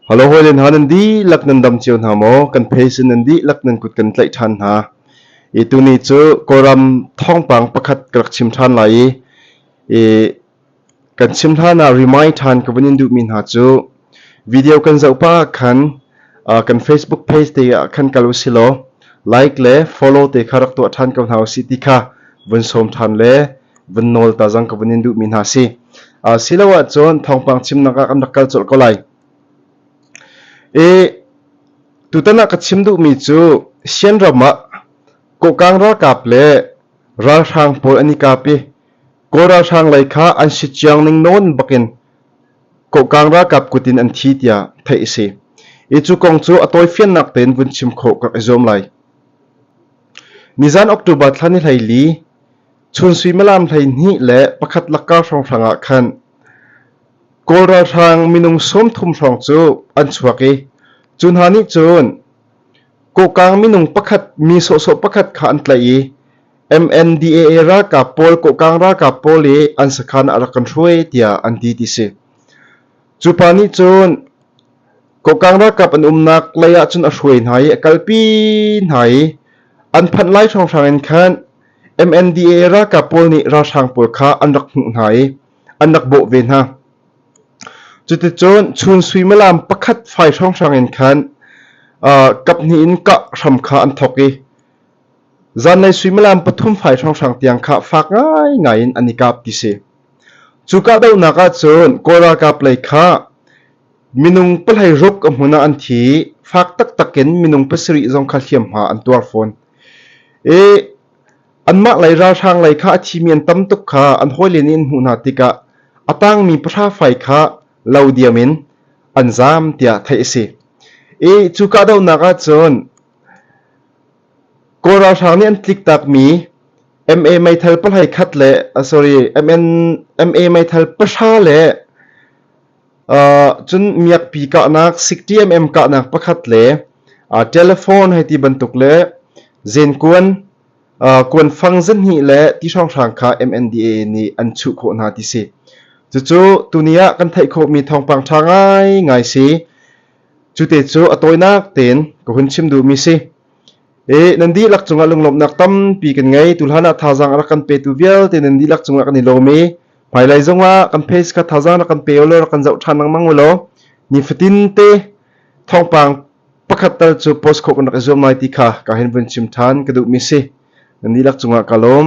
Halo hawi le hna nan dihlak nan dam cio hna maw? Kan pheisin nan dihlak nan kut kan tlaih ṭhan hna. I tuni cu Kawlram thawngpang pakhat ka rak chim ṭhan lai i, i kan chim hlan ah remind ṭhan ka vun in duhmi hna cu, Video kan zoh pah ahkhan kan Facebook page te ah khan kal usilaw like le follow te kha rak tuah ṭhan ko hna usih ti kha vun sawm ṭhan le vun nawl ta zang ka vun in duhmi hna si. Si lo ahcun thawngpang chimnak ah kan rak kal colh ko lai. I tutan ah ka chim duhmi cu Sien ram ah Kokang ralkap le ralhrang pawl an i kap i Kawl ralhrang lei kha an si ciang ning nawn bakin Kohkang ralkap kut in an thi tiah theih a si i cu kong cu a tawifiannak tein vun chim khawh ka i zuam lai. Nizan October thla ni hleili chun suimilam hleihnih le pakhat lakkar hrawnghrang ah khan Kawl ralhrang minung sawmthum hrawng cu an chuak i cu hna nih cun Kohkang minung pakhat mi sawhsawh pakhat kha an tlaih i MNDAA ralkap pawl kohkang ralkap pawl i an sakhan ah rak kan hruai tiah an ti ti si. Cu pa nih cun kohkang ralkap an umnak lei ah cun a hruai hna i a kalpi hna i an phanh lai hrawnghrang in khan MNDAA ralkap pawl nih ralhrang pawl kha an rak hmuh hna i an rak bawh ve hna. Cuticun chun suimilam pakhat fai hrawnghrang in khan uh, kap hnih in kah hram kha an thawk i Zanlei suimilam pathum fai hrawnghrang tiang kha fak ngaingai in an i kap ti si. Cu kahdohnak ahcun Kawl ralkap lei kha minung pahlei rup ka hmun ah an thi i fak taktak in minung pasarih zong kha hliamhma an tuar fawn. I anmah lei ralhrang lei kha a thimi an tam tuk kha an hawilen in hmuh hna tikah a tangmi pahra fai kha lo diam in an zaam tiah theih a si. I cu kahdohnak ahcun Kawl ralhrang nih an tliktakmi MA meithal pahlei khat le sorry MA meithal pahra le cun miakpi kahnak sik TMM kahnak pakhat le telephone hei ti bantuk le zenkuan kuanfang zinhnih le ti hrawnghrang kha MNDA nih an chuh khawh hna ti si. Cucu tuni ah kan theih khawhmi thawngpang ṭha ngaingai si. Cute cu a tawinak tein ka hun chim duhmi si. E, nan dihlak cungah lunglawmhnak tampi kan ngei. Tu hlan ah thazaang a rak kan petu vialte nan dihlak cungah kan i lawm i hmailai zongah kan phei kha thazaang rak kan pe ulaw rak kan zoh ṭhan lengmang ulaw nifatin te thawngpang pakhat tal cu post khawh kan rak i zuam lai ti kha ka hin vun chim ṭhan ka duhmi si. Nan dihlak cungah ka lawm.